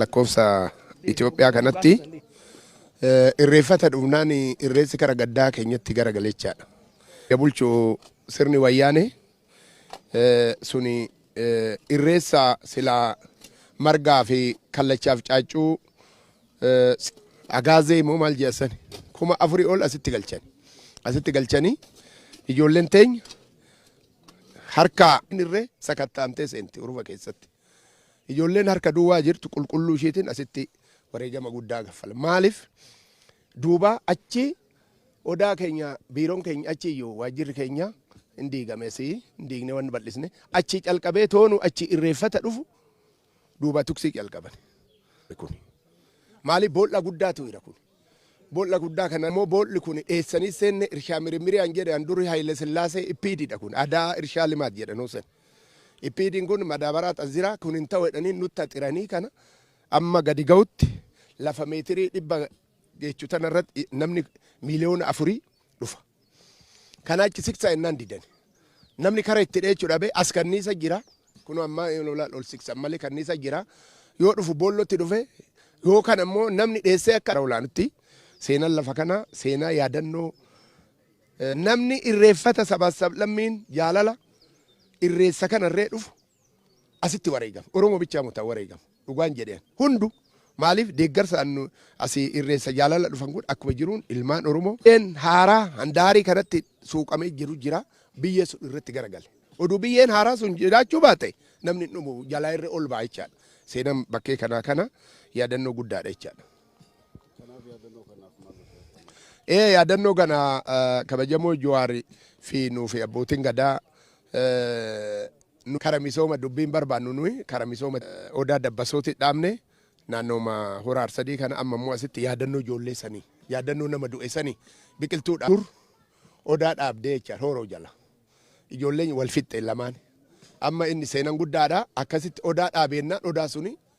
lakkoofsa Itoophiyaa kanatti eh, irreeffata dhufnaan irreessi kara gaddaa keenyatti gara galechaadha. Bulchu sirni wayyaane eh, suni eh, irreessa silaa margaa fi kallachaaf caaccuu eh, s- agaazee immoo maal jeessan kuma afurii ol asitti galchan asitti galchanii ijoolleen teenya harkaa hin irree sakattaamtee seenti urufa keessatti. Ijoolleen harka duwwaa jirtu qulqulluu ishiitiin asitti wareegama guddaa gaffala. Maaliif duubaa achi odaa keenya biiroon keenya achi iyyuu waajjirri keenya hin diigamesi hin diigne waan bal'isne achi calqabee toonu achi irreeffata dhufu duuba tuksii calqabani kuni maali bool'a guddaatu ira kuni bool'a guddaa kana immoo bool'i kuni dheessanii seenne irshaa mirimmirii an jedhe an duri Hayile Sillaasee ippiididha kun adaa irshaa limaat jedhe nuu sen ippiidiin kun madaabaraa xaziraa kun hin ta'u jedhanii nutti axiranii kana amma gadi ga'utti lafa meetirii dhibba geechu tanarratti namni miiliyoona afurii dhufa. Kana achi siksa ennaan didani. Namni kara itti dheechu dhabe as kanniisa jira. Kun amma ol siksan malee kanniisa jira. Yoo dhufu boollotti dhufe yoo kan ammoo namni dheessee akka olaanutti seenaan lafa kana seenaa yaadannoo namni irreeffata sabaas sablammiin jaalala irreessa kana irree dhufu asitti wareegame oromo bichaa muta wareegame dhugaan jedheen hundu maaliif deeggarsa annu asi irreessa jaalala dhufan kun akkuma jiruun ilmaan oromo een haaraa handaarii kanatti suuqamee jiru jira biyyee sun irratti garagale oduu biyyeen haaraa sun jiraachuu baate namni hin dhumu jalaa irra ol ba'a jechaadha seenan bakkee kanaa kana yaadannoo guddaadha jechaadha. Ee yaadannoo kana eh, kabajamoo Jawaar fi nuu fi abbootiin gadaa eh, nu kara misooma dubbiin barbaannu nuyi kara misooma eh, odaa dabbasooti dhaabne naannooma hora arsadii kana amma immoo asitti yaadannoo ijoollee sanii yaadannoo nama du'e sanii biqiltuu dhaab- dur odaa dhaabdee jecha hooroo jala ijoolleen wal fixxe lamaan amma inni seenan guddaadha akkasitti odaa dhaabeennaan odaa suni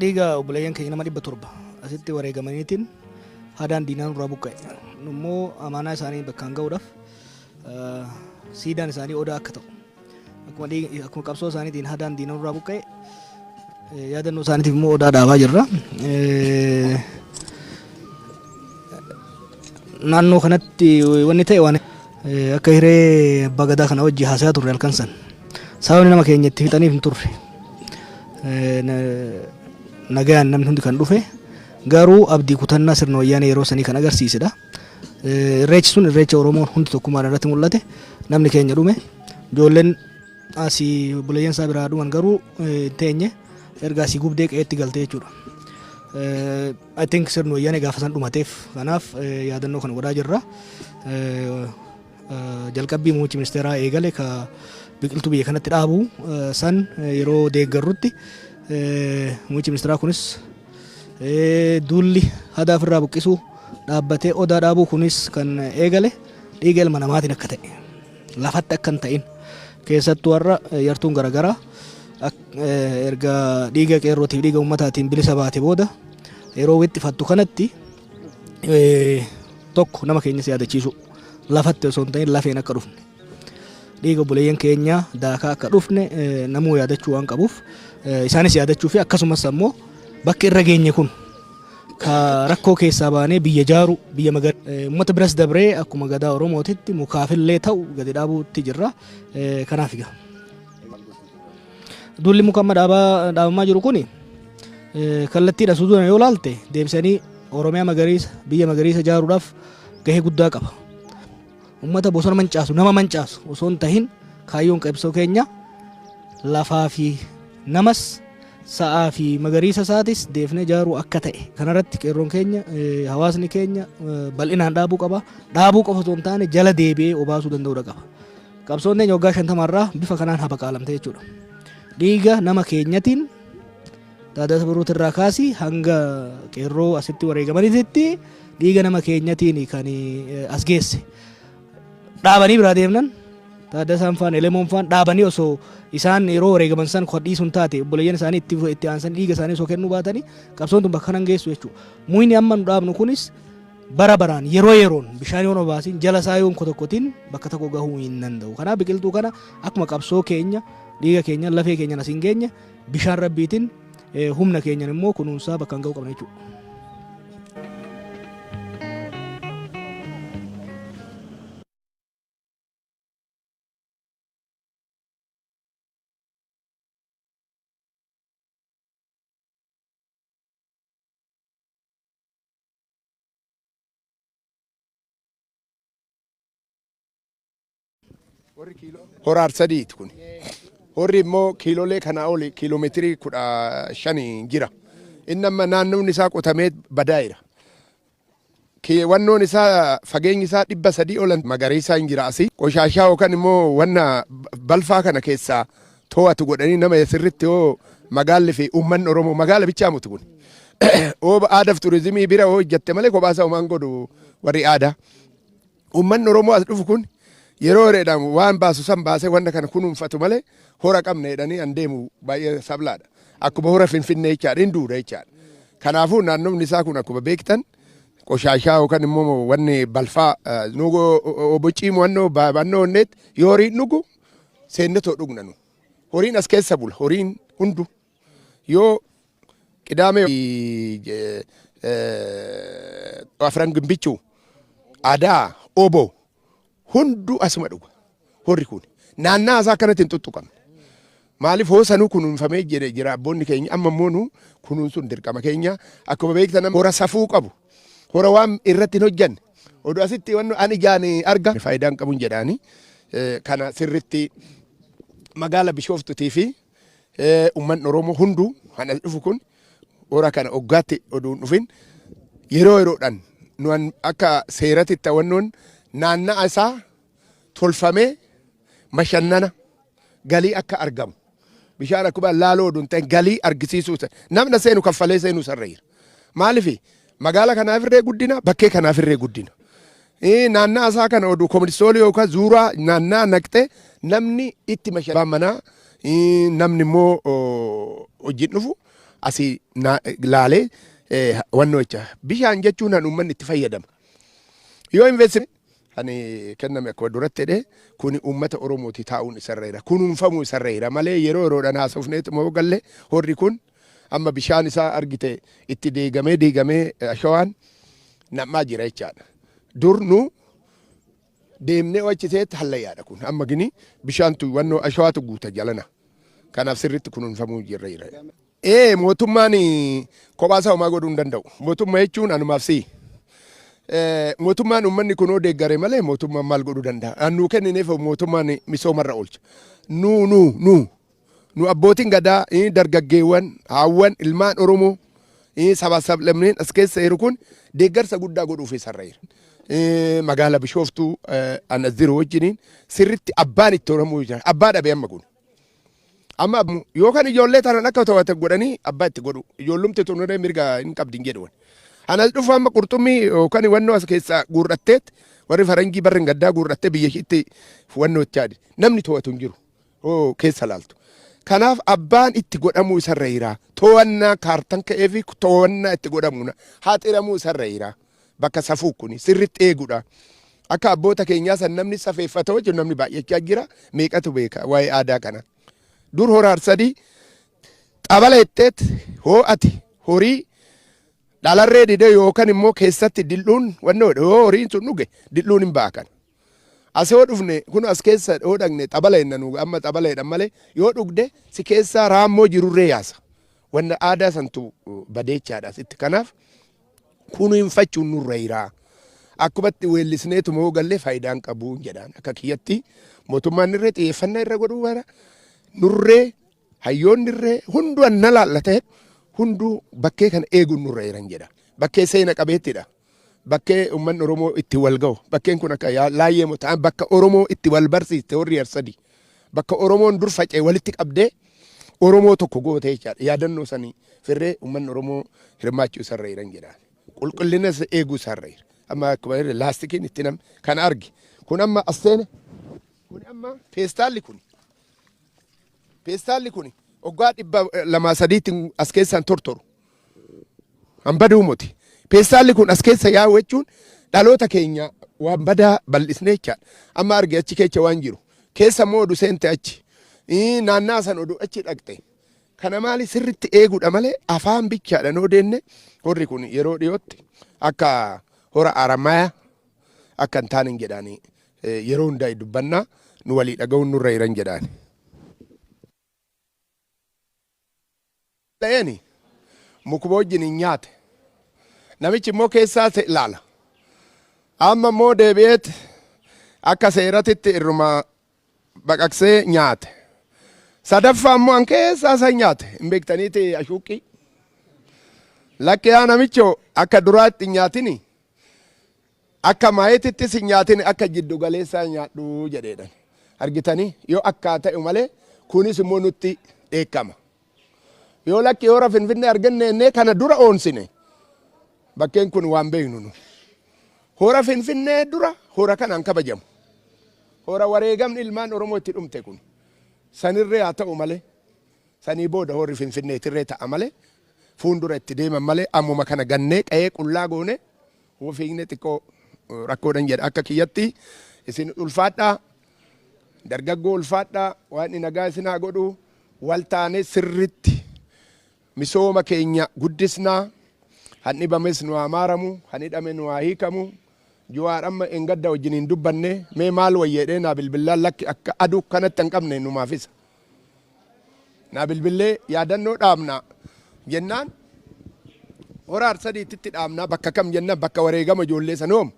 dhiiga obboleeyyan keenya nama dhibba torba asitti wareegamaniitiin hadaan diinaa nurraa buqqa'e. Nu immoo amaanaa isaanii bakkaan ga'uudhaaf eh, siidaan isaanii odaa akka ta'u akkuma dhiig- akkuma qabsoo isaaniitiin hadaan diinaa nurraa buqqa'e eh, yaadannoo isaaniitiif immoo odaa dhaabaa jirra. Eh, Naannoo kanatti wanni ta'e waan eh, akka hiree abbaa gadaa kana wajji haasaa turre halkan san sababni nama keenya itti fixaniif hin turre. Nagaan namni hundi kan dhufe garuu abdii kutannaa sirna wayyaanee yeroo sanii kan agarsiisedha. Irreechi sun irreecha Oromoon hundi tokkummaan irratti mul'ate namni keenya dhume ijoolleen asii obboleeyyan isaa biraa dhuman garuu hin teenye erga asii gubdee qe'eetti galte jechuudha. I think sirni wayyaanee gaafa san dhumateef kanaaf yaadannoo kana godhaa jirra. Jalqabbii muummichi ministeeraa eegale ka biqiltuu biyya kanatti dhaabu san yeroo deeggarrutti muummichi ministeeraa kunis duulli hadaa ofirraa buqqisuu dhaabbatee odaa dhaabuu kunis kan eegale dhiiga ilma namaatiin akka ta'e lafatti akka hin ta'in keessattuu har'a yartuun garaagaraa erga dhiiga qeerrootiif dhiiga ummataatiin bilisa baate booda yeroo wixxifattu kanatti tokko nama keenya si yaadachiisu lafatti osoo hin ta'in lafeen akka dhufne dhiiga obboleeyyan keenya daakaa akka dhufne namuu yaadachuu waan qabuuf isaanis yaadachuu fi akkasumas ammoo bakki irra geenye kun ka rakkoo keessaa baanee biyya jaaru biyya magar uummata biras dabree akkuma gadaa oromootitti mukaafillee ta'u gadi dhaabuutti jirra kanaaf egaa. Duulli muka amma dhaabaa dhaabamaa jiru kun kallattiidha suduudhaan yoo laalte deebisanii Oromiyaa magariisa biyya magariisa ijaaruudhaaf gahee guddaa qaba. Uummata bosona mancaasu nama mancaasu osoo hin tahin kaayyoon qabsoo keenya lafaa fi namas sa'aa fi magariisa isaatis deebinee ijaaruu akka ta'e kanarratti qeerroon keenya eh, hawaasni keenya eh, bal'inaan dhaabuu qaba. Dhaabuu qofa osoo hin taane jala deebi'ee obaasuu danda'uudha qaba. Qabsoon teenya waggaa shantama irraa bifa kanaan habaqaalamte jechuudha. Dhiiga nama keenyatiin Taaddaasa Birruuti irraa kaasi hanga qeerroo asitti wareegamanitti dhiiga nama keenyatiin kan as geesse. Dhaabanii biraa deemnan Taaddasaan faan Elemoon faan dhaabanii osoo isaan yeroo wareegaman san kodhiisuun taate obboleeyyan isaanii itti itti aansan dhiiga isaanii osoo kennuu baatanii qabsoon tun bakka kanan geessu jechuudha. Muyni amma nu dhaabnu kunis Bara baraan, yeroo yeroon bishaan yoon obaasin, jala isaa yoon kotokkotin bakka tokko gahuu hin danda'u. Kanaaf biqiltuu kana akkuma qabsoo keenya, dhiiga keenyan, lafee keenyan asiin geenye bishaan rabbiitin humna keenyan immoo kunuunsaa bakka ga'uu qabna jechuudha. Horri kiiloo. Hora arsadiiti kun. Horri immoo kiilolee kanaa oli kiiloomeetirii kudha shanii jira. Inni amma naannoon isaa qotamee badaa'eera. Ki- Wannoon isaa fageenyi isaa dhibba sadii olan magariisaa hin jira asii. Qoshaashaa yookaan immoo wanna balfaa kana keessaa too'atu godhanii nama sirritti hoo magaalli fi uummanni Oromoo magaala bichaa muti kun. Ooba aadaaf turizimii bira hoo hojjatte malee kophaa isaa homaan godhu warri aadaa. Uummanni Oromoo as dhufu kun yeroo hiriidhaan waan baasu san baasee wanta kana kunuunfatu malee hora qabna jedhanii an deemu baay'ee sablaadha. Akkuma hora Finfinnee jechaadha hin duudha jechaadha. Kanaafuu naannoon isaa kun akkuma beektan qoshaashaa yookaan immoo wanni balfaa obbo Ciimuu wannoo baabannoo onneetti yoo horiin dhugu seenne too dhugna nu. Horiin as keessa bula. Horiin hundu yoo qidaamee afran gimbichuu aadaa obo hundu asuma dhuga. Horri kun naannaa isaa akkanatti hin tuttuqamne. Maaliif hoo sanuu kunuunfamee jedhe jira abboonni keenya amma immoo nu kunuunsuun dirqama keenya akkuma beektan amma hora safuu qabu hora waan irratti hin hojjanne oduu asitti wanno an ijaan arga faayidaan qabun jedhaani kana sirritti magaala bishooftutii fi ummanni oromoo hunduu kan as dhufu kun hora kana oggaatti oduu hin dhufin yeroo yeroodhaan nu akka seeratitti wannoon naanna'a isaa tolfamee bashannana, galii akka argamu. Bishaan akkuma laaloo oduu hin ta'in galii argisiisuu isa. Namna seenu kaffalee seenuu isarra jira. Maaliif magaala kanaaf irree guddina bakkee kanaaf irree guddina. Ee, Naannaa isaa kana oduu koministoolii yookaan zuuraa naannaa naqxee namni itti mashalaa manaa ee, namni immoo oo, hojiin dhufu asii naa- laalee ee, wannoo jecha. Bishaan jechuun kan uummanni itti fayyadama. Yoo investment kan kenname akkuma duratti jedhe kuni uummata Oromooti taa'uun isarra jira. Kunuunfamuu isarra jira malee yeroo yeroodhaan haasofneet moo galle horri kun amma bishaan isaa argite itti deegamee deegamee ashawaan nam'aa jira jechaadha. Dur nu deemnee wachi ta'etti hallayyaadha kun amma gini bishaantu wannoo ashawaatu guuta jalana. Kanaaf sirriitti kunuunfamuu jirra jira. Ee mootummaan kophaa isaa homaa godhuu hin danda'u. Mootummaa jechuun anumaaf si'i. Mootummaan uummanni kunoo deeggare malee mootummaan maal godhuu danda'a? Aan nuu kennineef mootummaan misoomarra oolcha. Nu nu nu nu abbootiin gadaa dargaggeewwan haawwan ilmaan Oromoo sabaa sablammeen as keessa jiru kun deeggarsa guddaa godhuuf isarra jira. Magaala Bishooftuu ana ziroo wajjiniin sirritti abbaan itti Oromoo jira. Abbaa dhabe amma kun. Amma yoo kan ijoollee tanan akka to'ate godhanii abbaa itti godhu. Ijoollumti tunuree mirga hin qabdin jedhuwan. Anas dhufu amma qurxummii yookaan wannoo as keessaa guurratteet warri faranjii barri gaddaa guurrattee biyya ishiitti wannoo itti haadhe. Namni to'atu hin jiru. Oo keessa laaltu. Kanaaf abbaan itti godhamuu isarra jiraa. To'annaa kaartan ka'ee fi to'annaa itti godhamuun haa xiramuu isarra jiraa. bakka safuu kuni sirritti eegudha. Akka abboota keenyaa san namni safeeffata hojjetu namni baay'achaa jira. Meeqatu beeka waa'ee aadaa kana. Dur hora harsadii xabala jetteet hoo'ati horii dhalarree dide yookan immoo keessatti dil'uun wanni hodhe yoo horiin sun dhuge dil'uun hin ba'a kana. As yoo dhufne kun as keessa yoo dhaqne xabala jenna nu amma xabala jedhan malee yoo dhugde si keessaa raammoo jirurree yaasa. Wanna aadaa santu badeechaadha sitti kanaaf kunuunfachuun nurra jira. Akkumatti weellisneetu moo galle faayidaan qabu jedhaan akka kiyyatti mootummaan irree xiyyeeffannaa irra godhuu bara nurree hayyoonni irree hunduu anna laalla ta'e hunduu bakkee kana eeguun nurra jiran jedha. Bakkee seena qabeettidha. Bakkee uummanni Oromoo itti wal ga'u. Bakkeen kun akka laayyee ta'an bakka Oromoo itti wal barsiiste warri Arsadii. Bakka Oromoon dur faca'e walitti qabdee Oromoo tokko gootee jechaadha. Yaadannoo sanii firree uummanni Oromoo hirmaachuu isarra jiran jedhaan. Qulqullina isa eeguu isarra jira. Amma akkuma irra laastikiin itti nam kan arge. Kun amma as seene. Kun amma feestaalli kun. Feestaalli kun waggaa dhibba lamaa sadiitti as keessaan tortoru. Kan baduu moti. Peestaalli kun as keessa yaa'u jechuun dhaloota keenya waan badaa bal'isnee jechaadha. Amma arge achi keessa waan jiru. Keessa immoo odu seente achi. Ii, Naannaa san odu achi dhaqxe. Kana maali sirritti eeguudha malee afaan bichaadhaan yoo deenne horri kun yeroo dhiyootti akka hora Aramaayaa akka hin taane hin jedhaani. Eh, Yeroo hundaa dubbannaa nu walii dhaga'uun nurra jiran jedhaani. dhaga'eeni mukuma wajjin in nyaate. Namichi immoo keessaa isa ilaala. Amma immoo deebi'eet akka seeratitti irruma baqaqsee nyaate. Sadaffaa immoo an keessaa isa nyaate. Hin beektaniiti ashuuqqii. Lakki yaa namicho akka duraatti hin nyaatini. Akka maayetittis hin nyaatin akka jiddu galeessaa nyaadhu jedheedhan. Argitanii? Yoo akkaa ta'u malee kunis immoo nutti dheekkama. Yoo lakki hoora finfinnee arganne jennee kana dura oonsine bakkeen kun waan beeknu nu. Hoora finfinnee dura hoora kanaan kabajamu. Hoora wareegamni ilmaan Oromoo itti dhumte kun. Sanirree haa ta'u malee sanii booda hoorri finfinneetirree ta'a malee fuundura itti deeman malee ammuma kana gannee qa'ee qullaa goonee Hoo fiigne xiqqoo rakkoodhan jedha akka kiyyatti isin ulfaadhaa dargaggoo ulfaadhaa waaqni nagaa isin haa godhu wal taanee sirritti misooma keenya guddisnaa han dhibames nu haa maaramu han hidhame nu haa hiikamu juwaar amma engadda wajjin hin dubbanne mee maal wayyeedhee naa bilbillaan lakki akka aduu kanatti hin qabne numaafisa. Naa bilbillee yaadannoo dhaabna jennaan hora harsadiitti itti dhaabna bakka kam jennaan bakka wareegama ijoollee sanoom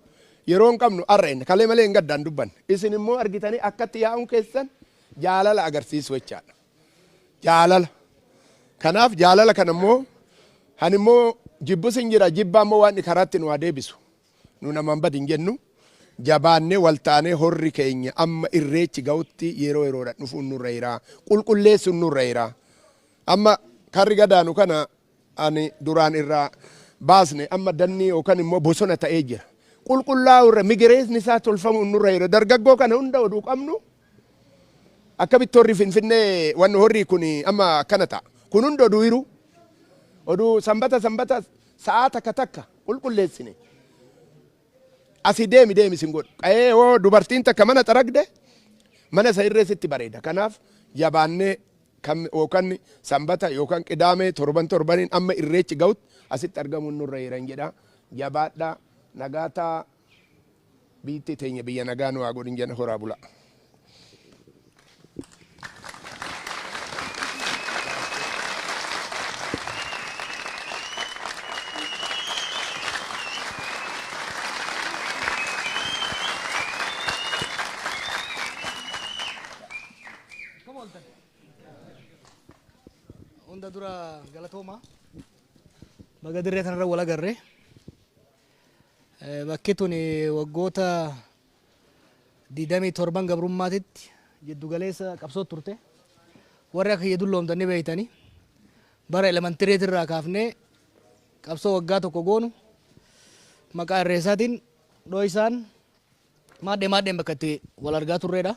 yeroo hin qabnu arra inni kalee malee hin gaddaan dubbanne isin immoo argitanii akkatti yaa'uun keessan jaalala agarsiisu jechaadha. Jaalala. Kanaaf jaalala kana immoo kan immoo jibbus hin jira jibbaa immoo waan karaatti nu haa deebisu. Nu namaan badi hin jennu. Jabaannee wal taanee horri keenya amma irreechi ga'utti yeroo yeroodhaan dhufuun nurra jira. Qulqulleessuun nurra jira. Amma karri gadaanu kana ani duraan irraa baasne amma dannii yookan immoo bosona ta'ee jira. Qulqullaa'uu irra migireesni isaa tolfamuun nurra jira. Dargaggoo kana hunda oduu qabnu Akkamitti horri finfinnee wanno horrii kun amma akkana ta'a kun hundi oduu hiruu oduu sanbata sanbata sa'aa takka takka qulqulleessine asi deemi deemi sin godhu qa'ee hoo dubartiin takka mana xaragde mana isa irree sitti bareeda kanaaf jabaannee kan yookaan sanbata yookaan qidaamee torban torbaniin amma irreechi ga'utti asitti argamuun nurra jiran jedha jabaadhaa nagaataa Biyyittii teenya biyya nagaa nu haa godhin jenna horaa bulaa. Hunda dura galatooma. Baga dirree kanarra wal agarre. Bakki tun waggoota 27 gabrummaatitti jiddu galeessa qabsoo turte. Warri akka kiyya dulloomtan ni beeytani. Bara elementireet irraa kaafnee qabsoo waggaa tokko goonu maqaa irreessaatiin dhooysaan maadhee maadheen bakka itti wal argaa turreedha.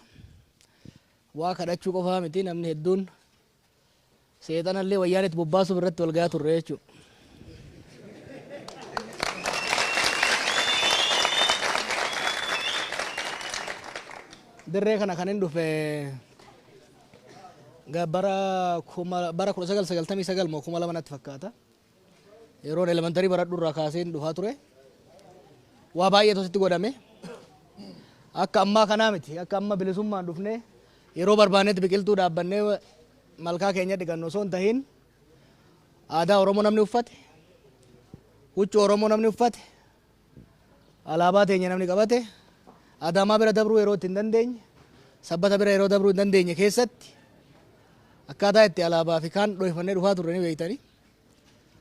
Waa kadhachuu qofaa miti namni hedduun Seexana illee wayyaanetti bobbaasuuf irratti wal gayaa turre jechuudha. Dirree kana kan hin dhufe bara 1999 moo 2000 natti fakkaata. Yeroon elementarii baradhu irraa kaaseen dhufaa ture. Waa baay'eetu asitti godhame. Akka ammaa kanaa miti. Akka amma bilisummaan dhufnee yeroo barbaannetti biqiltuu dhaabbannee malkaa keenya dhiqannu osoo hin tahin aadaa Oromoo namni uffate, huccuu Oromoo namni uffate, alaabaa teenya namni qabate, Adaamaa bira dabruu yeroo itti hin dandeenye, sabbata bira yeroo dabruu hin dandeenye keessatti akkaataa itti alaabaa fi kaan dhohifannee dhufaa turre ni beektanii.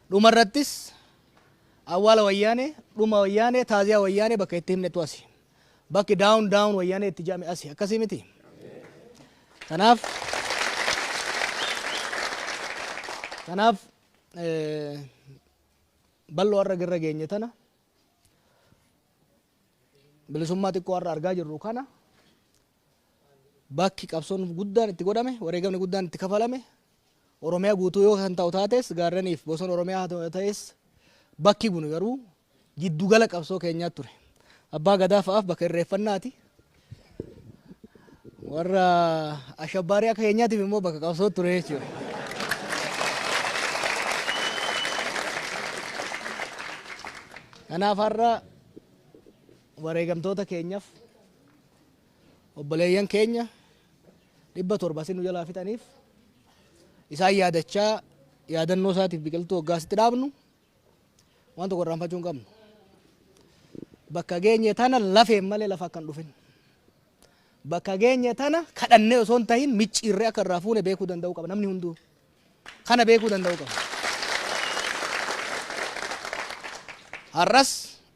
Dhuma irrattis awwaala wayyaanee, dhuma wayyaanee, taaziyaa wayyaanee bakka itti himnetu asi. Bakki daawun daawun wayyaanee itti jedhame asi. Akkasii miti? Kanaaf kanaaf eh, bal'oo har'a irra geenye tana bilisummaa xiqqoo har'a argaa jirru kana bakki qabsoon guddaan itti godhame wareegamni guddaan itti kafalame Oromiyaa guutuu yoo kan ta'u taates gaarreniif bosona Oromiyaa haa ta'es bakki kun garuu giddu gala qabsoo keenyaa ture. Abbaa Gadaa fa'aaf bakka irreeffannaati. Warra ashabbaarii akka keenyaatiif immoo bakka qabsoo ture jechuudha. Kanaaf har'a wareegamtoota keenyaaf obboleeyyan keenya 700 asiin nu jalaa fixaniif isaan yaadachaa yaadannoo isaatiif biqiltuu waggaa asitti dhaabnu waan tokko irraanfachuu hin qabnu. Bakka geenye tana lafeen malee lafa akka hin dhufin. Bakka geenye tana kadhannee osoo hin tahin micciirree akka irraa fuune beekuu danda'uu qaba namni hunduu. Kana beekuu danda'uu qaba. Har'as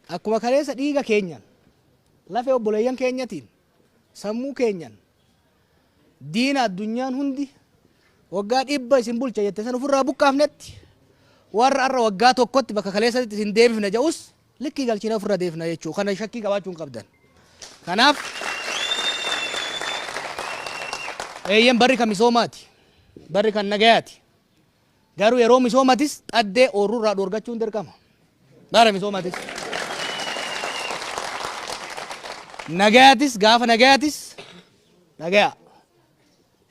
akkuma kaleessa dhiiga keenyaan lafee obboleeyyan keenyatiin sammuu keenyaan Diina addunyaan hundi waggaa dhibba isin bulcha jette san ofirraa buqqaafnetti warra arra waggaa tokkotti bakka kaleessatti isin deebifna ja'us likkii galchina ofirra deebifna jechuu kana shakkii qabaachuu hin qabdan. Kanaaf eeyyen barri kan misoomaati. Barri kan nagayaati. Garuu yeroo misoomatis xaddee oorruu irraa dhoorgachuun dirqama. Bara misoomatis. Nagayatis gaafa nagayatis nagaya.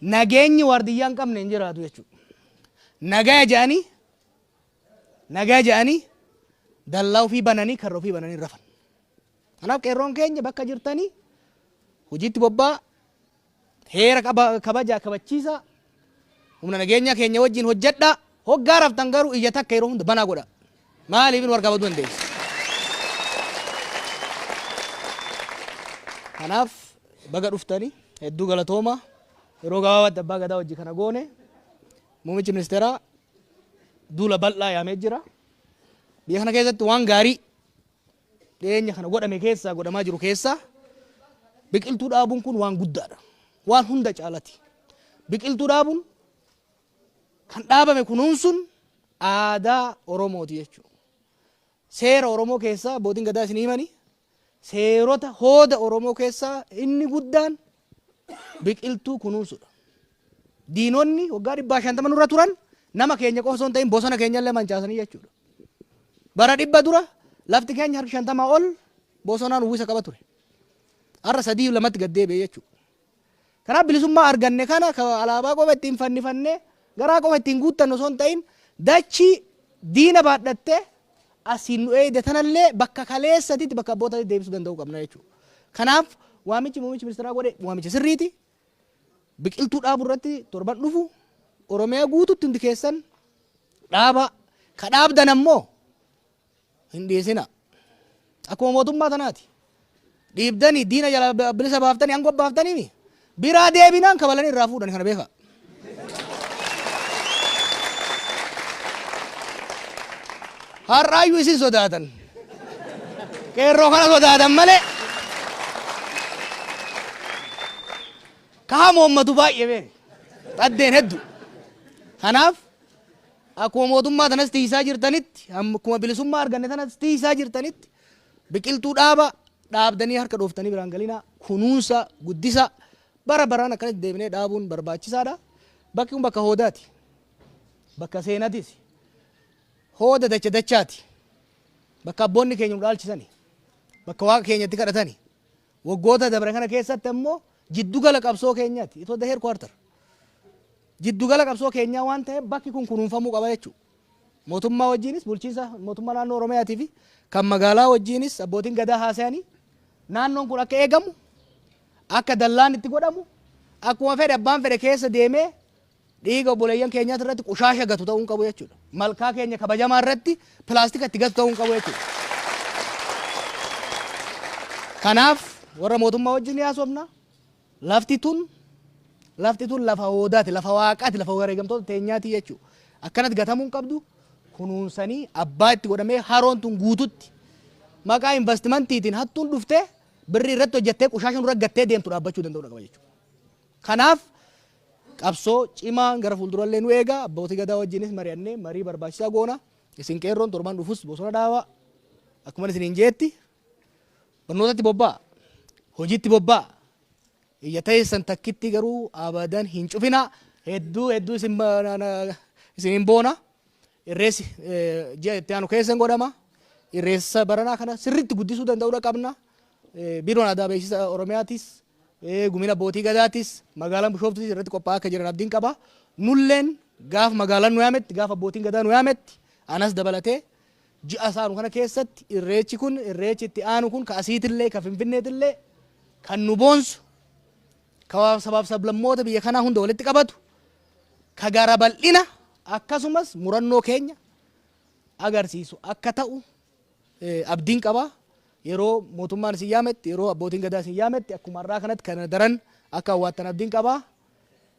Nageenyi waardiyyaa hin qabne hin jiraatu jechuudha. Nagaya jedhanii nagaya jedhanii dallaa ofii bananii karra ofii bananii rafan. Kanaaf qeerroon keenya bakka jirtanii hojiitti bobba'aa, heera kabajaa kabachiisaa, humna nageenyaa keenya wajjin hojjedhaa, hoggaa raftan garuu ija takka yeroo hunda banaa godhaa. Maaliif nu harkaa baduu dandeessi. Kanaaf baga dhuftanii hedduu galatoomaa yeroo gabaabaatti abbaa gadaa wajji kana goone muummichi ministeeraa duula bal'aa yaamee jira. Biyya kana keessatti waan gaarii dhiyeenya kana godhame keessaa godhamaa jiru keessaa biqiltuu dhaabuun kun waan guddaadha. Waan hunda caalati. Biqiltuu dhaabuun kan dhaabame kunuunsuun aadaa Oromooti jechuudha. Seera Oromoo keessaa abbootiin gadaa isin himani seerota hooda Oromoo keessaa inni guddaan biqiltuu kunuunsuudha. Diinonni waggaa dhibbaa shantama nurra turan nama keenya qofa osoo hin ta'in bosona keenya illee mancaasanii jechuudha. Bara dhibba dura lafti keenya harki shantamaa ol bosonaan uwwisa qaba ture. Har'a sadii lamatti gad deebi'e jechuudha. Kanaaf bilisummaa arganne kana alaabaa qofa ittiin fannifannee garaa qofa ittiin guuttannu osoo hin ta'in dachii diina baadhattee asiin nu eeyde tanallee bakka kaleessatitti bakka abbootatitti deebisuu danda'uu qabna jechuudha. Kanaaf waamichi muummichi ministeeraa godhe waamicha sirriiti. Biqiltuu dhaabuu irratti torban dhufu Oromiyaa guututti hundi keessan dhaabaa. Ka dhaabdan ammoo hin dhiisina. Akkuma mootummaa tanaati. dhiibdanii diina jala bilisa baaftanii angoo baaftanii mi biraa deebinaan kabalanii irraa fuudhan kana beekaa. Har'aayyuu isin sodaatan. Qeerroo kana sodaatan malee. Kaha moommatu baay'ee beene. Xaddeen heddu. Kanaaf akkuma mootummaa tanas tiisaa jirtanitti akkuma bilisummaa arganne tanas tiisaa jirtanitti Biqiltuu dhaaba, dhaabdanii harka dhooftanii biraan galinaa, kunuunsa, guddisa, bara baraan akkanatti deebinee dhaabuun barbaachisaadha. Bakki kun bakka hoodaati. Bakka seenatisi. Hooda dacha dachaati. Bakka abboonni keenya nu dhaalchisani. Bakka waaqa keenya itti kadhatani. Waggoota dabre kana keessatti ammoo jiddugala qabsoo keenyaati. It was the headquarter. Jiddugala qabsoo keenyaa waan ta'eef bakki kun kunuunfamuu qaba jechuudha. Mootummaa wajjiinis bulchiinsa mootummaa naannoo Oromiyaatii fi kan magaalaa wajjiinis abbootiin Gadaa haasayanii naannoon kun akka eegamu, akka dallaan itti godhamu, akkuma fedhe abbaan fedhe keessa deemee dhiiga obboleeyyan keenyaati irratti qushaasha gatu ta'uu hin qabu jechuudha. Malkaa keenya kabajamaa irratti pilaastika itti gatu ta'uu hin qabu jechuudha. Kanaaf warra mootummaa wajjin ni haasofna, Lafti tun lafti tun lafa hoodaati, lafa Waaqaati, lafa wareegamtoota teenyaati jechuu. Akkanatti gatamuu hin qabdu. Kunuunsanii abbaa itti godhamee haroon tun guututti maqaa invastimantiitiin hattuun dhuftee birrii irratti hojjattee qushaasha nurra gattee deemtu dhaabbachuu danda'uudha qaba jechuudha. Kanaaf qabsoo cimaan gara fuuldurallee nu eega. Abbootii Gadaa wajjinis mari'annee marii barbaachisaa goona. Isin qeerroon torban dhufus bosona dhaabaa. Akkuman isiniin jeetti Barnootatti bobba'aa! Hojiitti bobba'aa! Ija teessan takkittii garuu abadan hin cufinaa! Hedduu hedduu isin ba- na- na- isin hin boona. Irreessi eh, ji'a itti aanu keessa hin godhama. Irreessa baranaa kana sirriitti guddisuu danda'uudha qabna. Eh, Biiroon Aadaa Beeksisa Oromiyaatis, eh, Gumina Bootii Gadaatis, magaalaan Bishooftuutis irratti qophaa'aa akka jiran abdiin qaba. Nulleen gaafa magaalaan nu yaametti, gaafa abbootiin gadaa nu yaametti, anas dabalatee Ji'a isa aanu kana keessatti irreechi kun, irreechi itti aanu kun ka asiitillee, ka Finfinneetillee kan nu boonsu, ka sabaaf sablammoota biyya kanaa hunda walitti qabatu, ka gara bal'ina akkasumas murannoo keenya agarsiisu akka ta'u abdiin qaba. Yeroo mootummaan isin yaametti, yeroo abbootiin gadaa isin yaametti akkuma har'aa kanatti kana daran akka hawwaattan abdiin qaba.